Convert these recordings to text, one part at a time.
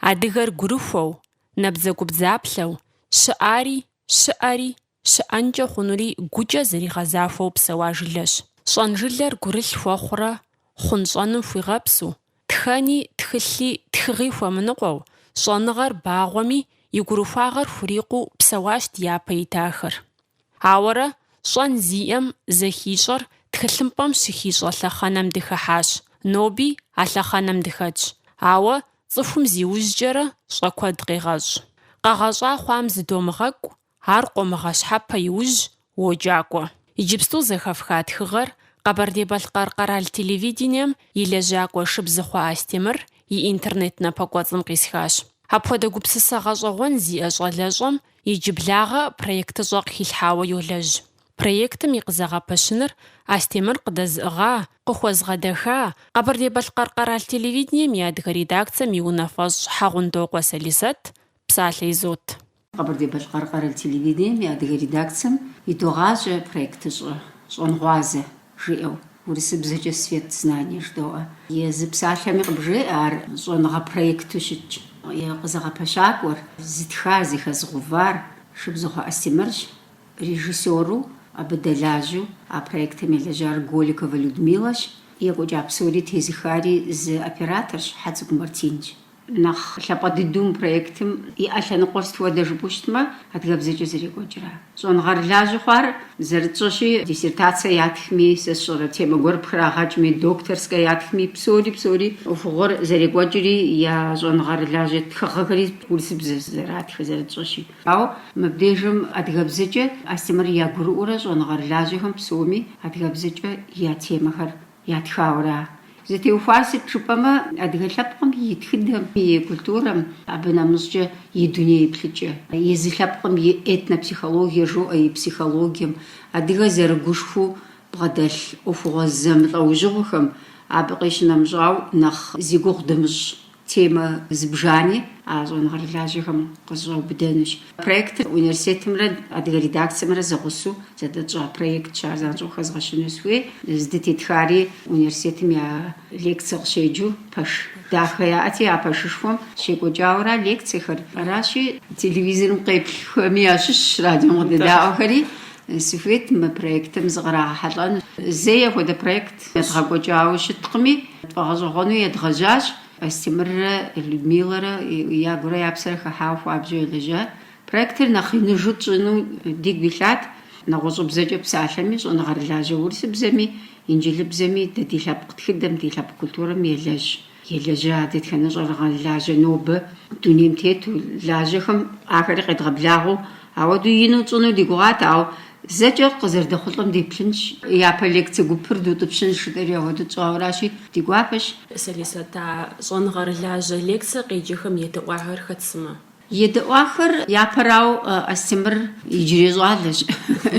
Адыгэр гурыхуэу, набдзэгубдзаплъэу, щыӏари, щыӏэри, щыӏэнкӏэ хъунури гукӏэ зэригъэзахуэу псэуа жылэщ. Щӏэнжылэр гурылъ хуэхъурэ, хъунщӏэным хуигъэпсу, тхэни, тхылъи, тхыгъи хуэмыныкъуэу, щӏэныгъэр багъуэми, и гурыхуагъэр хурикъуу псэуащ ди япэ итахэр. Ауэрэ, щӏэн зиӏэм зэхищӏэр тхылъымпӏэм щыхищӏэ лъэхъэнэм дыхыхьащ, ноби а лъэхъэнэм дыхэтщ. Ауэ цӏыхум зиужькӏэрэ щӏэ куэд къегъэщӏ. Къэгъэщӏа хъуам зыдомыгъэкӏу, ар къомыгъэщхьэпэ иужь уоджакӏуэ. Иджыпсту зэхэфха тхыгъэр Къэбэрдей-Балъкъэр къэрал телевидением и лэжьакӏуэ Шыбзыхъуэ Астемыр и интернет напэкӏуэцӏым къисхащ. Апхуэдэ гупсысэ гъэщӏэгъуэн зиӏэ щӏалэщӏэм Иджыблагъэ проектыщӏэ къыхилъхьауэ йолэжь. Проектым и къызэгъэпэщыныр Астемыр къыдэзыӏыгъа, къыхуэзгъэдэха Къэбэрдей-Балъкъэр къэрал телевидением и адыгэ редакцэм и унафэщӏ Хьэгъундокъуэ Салисэт, псалъэ изот. Къэбэрдей-Балъкъэр къэрал телевидением и адыгэ редакцэм идогъажьэ проектыщӏэ Щӏэнгъуазэ. жиӏэу, урысыбзэкӏэ свет знания жыдоӏэ. Езы псалъэми къыбжеӏэ ар щӏэныгъэ проекту щытщ. И къызэгъэпэщакӏуэр, зытха, зэхэзыгъэувар Шыбзыхъуэ Астемырщ, режиссёру, абы дэлажьэу а проектым елэжьар Голиковэ Людмилэщ, екӏуэкӏа псори тезыхари зы операторщ, Хьэцӏыкӏу Мартинщ. Нэхъ лъапӏэ дыдэу мы проектым иӏэ лъэныкъуэр сыт хуэдэ жыпӏэу щытмэ, адыгэбзэкӏэ зэрекӏуэкӏра. Щӏэныгъэрылажьэ хъуар зэрытщӏэщи, диссертацэ ятхми, сэ сщӏэрэ темэ гуэр пхрагъэкӏми, докторскэ ятхми, псори псори ӏуэхугъуэр зэрекӏуэкӏри, я щӏэныгъэрылажьэ тхыгъэхэри урысыбзэ зэратхыр зэрытщӏэщи. Ауэ мыбдежым адыгэбзэкӏэ Астемыр ягурыӏуэурэ щӏэныгъэрылажьэхэм псоми адыгэбзэкӏэ я темэхэр Ятхауэра? Зытеухуар сыт жыпӏэмэ, адыгэ лъэпкъым и тхыдэм, и культурэм, абы нэмыщӏкӏэ и дуней еплъыкӏэ, езы лъэпкъым и этнопсихологие жоӏэ, и психологием, адыгэ зэрыгушхуу бгъэдэлъ ӏуэхугъуэ зэмылӏэужьыгъуэхэм, абы къищынэмыщӏауэ, нэхъ зи гугъу дымыщӏ Темэ зыбжани а щӏэныгъэрылажьэхэм къызэщӏаубыдэнущ. Проектыр университетымрэ адыгэ редакцэмрэ зэгъусэу зэдэтщӏа проектщ, ар занщӏэу хэзгъэщыну сыхуей. Здытетхари университетым я лекцэ къыщеджэу пэш дахэ яӏэти, а пэшышхуэм щекӏуэкӏауэра лекцэхэр. Аращи, телевизорым къеплъхэми ящыщщ радиом къыдэдаӏуэхэри, Сыхуейт мы проектым зыкърагъэхьэлӏэну. Зэи апхуэдэ проект едгъэкӏуэкӏауэ щыткъыми, тфӏэгъэщӏэгъуэну едгъэжьащ. Астемыррэ Людмилэрэ я гурэ я псэрэ хыхьауэ хуабжьу елэжьат. Проектыр нэхъ иныжу тщӏыну дигу илъат. Нэгъуэщӏыбзэкӏэ псалъэми, щӏэныгъэрылажьэ урысыбзэми, инджылыбзэми, дэ ди лъэпкъ тхыдэм, ди лъэпкъ культурэм елэжь. Елэжьа дэтхэнэ щӏэныгъэрылажьэ нобэ дунейм тету, лажьэхэм ахэри къедгъэблагъэу, ауэдэу ину тщӏыну ди гугъат, ауэ зэкӏэ къызэрыдэхъулӏэм деплъынщ, япэ лекцэ гупыр дутӏыпщынщ жытӏэри ауэдэ тщӏауэращи, ди гуапэщ. Сэри сыт а щӏэныгъэрылажьэ лекцэ къеджэхэм едэӏуахэр хэт сымэ? Едэӏуахэр япэрау Астемыр иджырей щӏалэщ,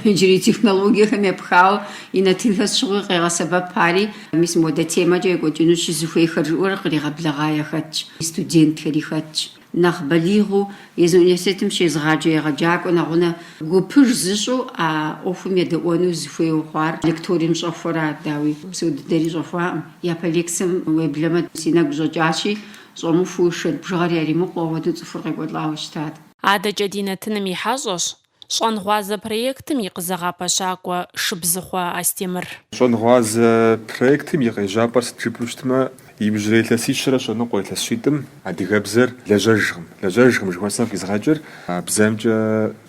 иджырей технологиехэм епхауэ и нэтынхэр сыт щыгъуи къегъэсэбэп, ари мис моуэдэ темэкӏэ екӏуэкӏынущи зыхуейхэр жиӏэурэ къригъэблэгъа яхэтщ, и студентхэри хэтщ. Нэхъ балигъыу езы университетым щезыгъаджэ егъэджакӏуэ нэгъунэ гупыж зыщӏу а ӏуэхум едэӏуэну зыхуейуэ хъуар лекторием щӏэхуэра, дауи, псо дыдэри щӏэхуакъым, япэ лекцэм уеблэмэ си нэгу щӏэкӏащи, Щӏэмыхуу шэнт бжыгъэр яримыкъуу ауэдэу цӏыхур къекӏуэлӏауэ щытат. Адэкӏэ ди нэтыным и хьэщӏэщ Щӏэнгъуазэ проектым и къызэгъэпэщакӏуэ Шыбзыхъуэ Астемыр. Щӏэнгъуазэ проектым и къежьапӏэр сыт жыпӏэу щытмэ, иужьрей илъэсищэрэ щэ ныкъуэ илъэсщитӏым адыгэбзэр лэжьэжкъым. Лэжьэжкъым жыхуэсӏэм къизгъэкӏыр бзэмкӏэ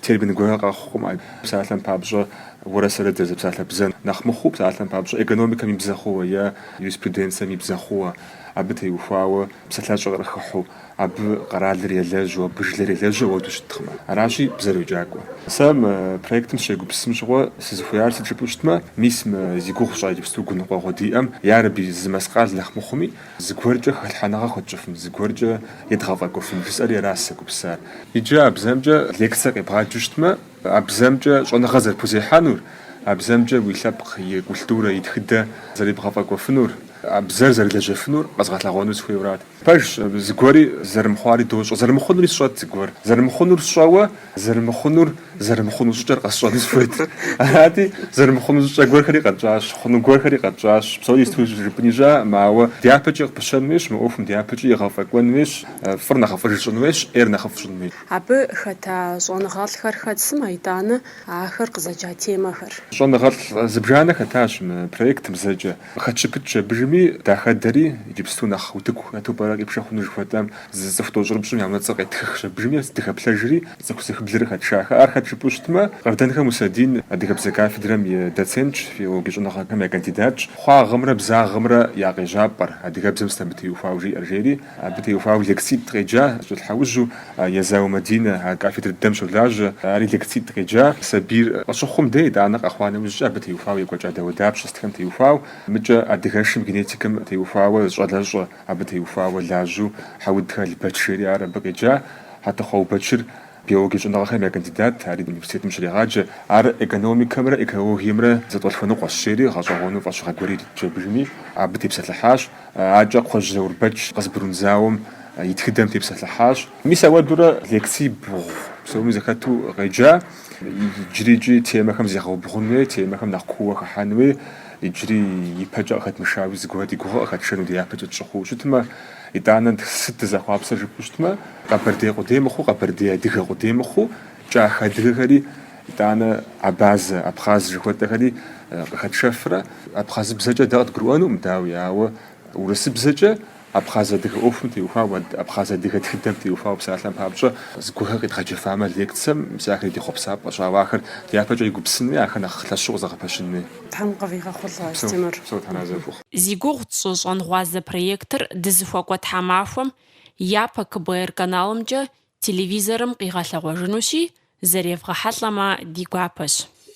термин гуэрхэр къэхъукъым. Псалъэм папщӏэ, уэрэ сэрэ дызэрызэпсалъэ бзэр нэхъ мыхъуу, псалъэм папщӏэ, экономикэм и бзэ хъууэ е юриспруденцэм и бзэ хъууэ. Абы теухуауэ псалъащӏэ къыхыхьэу, абы къэралыр елэжьу, абы жылэр елэжьу ауэду щыткъымэ. Аращи, бзэр йокӏакӏуэ. Сэ мы проектым сыщегупсысым щыгъуэ сызыхуеяр сыт жыпӏэу щытмэ, мис мы зи гугъу тщӏа иджыпсту гуныкъуэгъуэ диӏэм, ярэби, зы мэскъал нэхъ мыхъуми, зыгуэркӏэ хэлъхьэныгъэ хуэтщӏыфын, зыгуэркӏэ едгъэфӏэкӏуэфын жысӏэри аращ сызэгупсысар. Иджы а бзэмкӏэ лекцэ къебгъаджэу щытмэ, А бзэмкӏэ щӏэныгъэ зэрыпхузехьэнур, а бзэмкӏэ уи лъэпкъ и культурэ, и тхыдэ зэребгъэфӏэкӏуэфынур, а бзэр зэрылэжьэфынур къэзгъэлъэгъуэну сыхуейуэрат. Пэжщ, зыгуэри зэрымыхъуари дощӏэ, зэрымыхъунури сщӏэт зыгуэр. Зэрымыхъунур сщӏэуэ, зэрымыхъунур, зэрымыхъуну щӏыкӏэр къэсщӏэну сыхуейт. Арати, зэрымыхъуну щӏыкӏэ гуэрхэри къэтщӏащ, хъуну гуэрхэри къэтщӏащ. Псори иту жыпӏэн ищӏакъым, ауэ дяпэкӏэ къыпыщэн хуейщ, мы ӏуэхум дяпэкӏи егъэфӏэкӏуэн хуейщ, фӏыр нэхъыфӏыж щӏын хуейщ, ӏейр нэхъыфӏ щӏын хуейщ. Абы хэта щӏэныгъэлӏхэр хэт сымэ, итӏанэ ахэр къызэджа темэхэр? Щӏэныгъэлӏ зыбжанэ хэтащ мы проектым зэкӏэ. Къыхэтщыпыкӏщ абыжми дахэдэри, иджыпсту нэхъ утыку хэту пӏэрэ къипшэ хъуну жыхуэтӏэ, зы цӏыху тӏощӏрыпщӏым я унэцӏэр къеттхыхщ абыжми, дыхэплъэжри, цӏыху зыхыблыр къыхэтшахэ. Ар хэт жыпӏэу щытмэ, Къардэнхэ Мусэдин адыгэбзэ кафедрэм и доцентщ, филологи щӏэныгъэхэм я кандидатщ, хъуагъымрэ бзагъымрэ я къежьапӏэр, адыгэбзэм сыт абы теухуауэ жиӏэр, жери, Абы теухуауэ лекцитӏ къеджа щӏылъхьэужьу Езау Мадинэ, а кафедрэ дыдэм щолажьэ. Ари лекцитӏ къеджа сабийр къыщыхъум деж, итӏанэ къэхъуа нэужькӏэ абы теухуауэ екӏуэкӏа дауэдапщэ сытхэм теухуау, мыкӏэ адыгэшым, генетикэм теухуауэ зы щӏалэщӏэ, абы теухуауэ лажьэу Хьэудхэ Албэч жери ар абы къеджа. Хьэтыхъу Аубэчыр биологие щӏэныгъэхэм я кандидат, ари университетым щрегъаджэ. Ар экономикэмрэ экологиемрэ зэтӏолъхуэныкъуэщ, жери гъэщӏэгъуэну фӏэщыгъэ гуэри иритщ абыжми, абы тепсэлъыхьащ. Акӏэ Кхъуэжь Заурбэч Къызбрун зауэм и тхыдэм тепсэлъыхьащ. Мис ауэдурэ лекций бгъу псоми зэхэту къеджа. Иджыри икӏи темэхэм зегъэубгъун хуей, темэхэм нэхъ кууэ хыхьэн хуей, иджыри ипэкӏэ къыхэтмышауи зыгуэр ди гугъэ къыхэтшэну дяпэкӏэ тщӏы хъууэ щытмэ, итӏанэ сыт дызэхъуапсэр жыпӏэу щытмэ, къэбэрдей къудей мыхъуу, къэбэрдей-адыгэ къудей мыхъуу, Кӏахэ адыгэхэри, итӏанэ абазэ, абхъаз жыхуэтӏэхэри къыхэтшэфрэ? Абхъазыбзэкӏэ дэ къыдгурыӏуэнукъым, дауи, ауэ урысыбзэкӏэ абхъаз адыгэ ӏуэхум теухуауэ, абхъаз адыгэ тхыдэм теухуауэ псалъэм папщӏэ, зыгуэрхэр къидгъэджэфамэ лекцэм, мис ахэр ди хъуэпсапӏэщ, ауэ ахэр дяпэкӏэ егупсысын хуей, ахэр нэхъ лъэщу къызэгъэпэщын хуей. Тхьэм къывигъэхъулӏэ, Астемыр. Упсэу, Тхьэр арэзы къыфхухъу. Зи гугъу тщӏы щӏэнгъуазэ проектыр дызыхуэкӏуэ тхьэмахуэм япэ КБР каналымкӏэ Телевизорым къигъэлъэгъуэжынущи, зэревгъэхьэлӏэмэ ди гуапэщ.